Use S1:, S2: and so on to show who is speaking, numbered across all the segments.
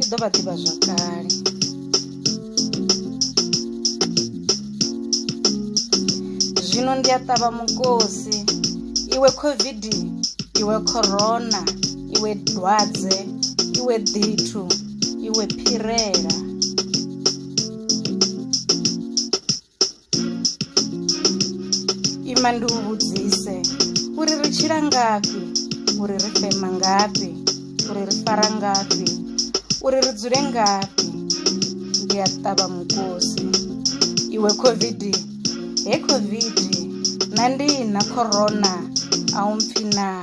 S1: i ḓo vha ḓivha zwakale zwino ndi a ṱavha mukosi iwe covid iwe corona iwe dwadze iwe ḓithu iwe phirela ima ndi u vhudzise uri ri tshila ngafhi uri ri fema ngafhi uri ri fara ngafhi uri ri dzule ngafhi ndi a ṱavha mukosi iwe covid he covid na ndi na corona a u mpfi naa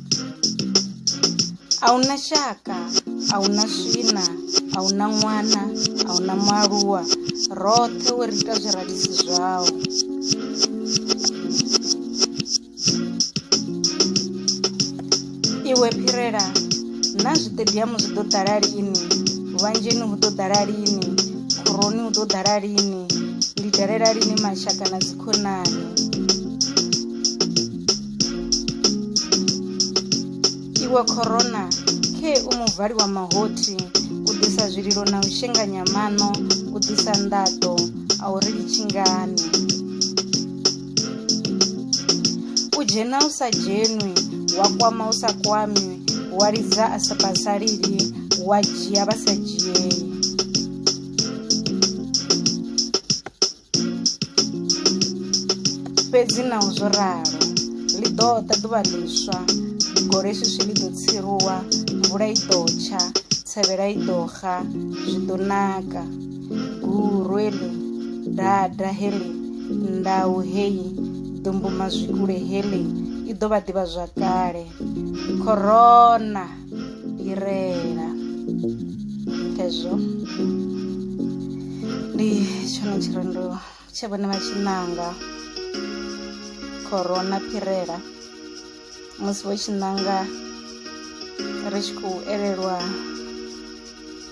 S1: A hu na shaka, a hu na swina, a hu na ṅwana, a hu na mualuwa, roṱhe wo ri ita zwirabisi zwau. Iwe phirela, na zwiṱediamu zwi ḓo ḓala lini? Vhanzheni hu ḓo ḓala lini? Khoroni hu ḓo ḓala lini? Ndi dalela lini mashaka na dzikhonani? Iwe corona, khee u muvhali wa mahothi, u ḓisa zwililo na u shenganya maṋo, u ḓisa nḓaḓo, a u ri litshi ngani. U dzhena u sa dzhenwi, wa kwama u sa kwami, wa lidza a sa vhasaleli, wa dzhia vha sa dzhiei. fhedzi naho zwo ralo ḽi ḓo ḓa ḓuvha ḽiswa gole swiswi ḽi ḓo tsiruwa mvula i ḓo tsha tsevhela i ḓo xa zwi ḓo naka guru eḽi dada heḽi ndau heyi ḓumbuma zwikule heḽi i ḓo vha ḓivha zwakale khorona fhirela hezwo ndi tshone tshirendo tshe vhone vha tshi ṋanga khorona phirela musi vho tshi ṋanga ri tshi khou elelwa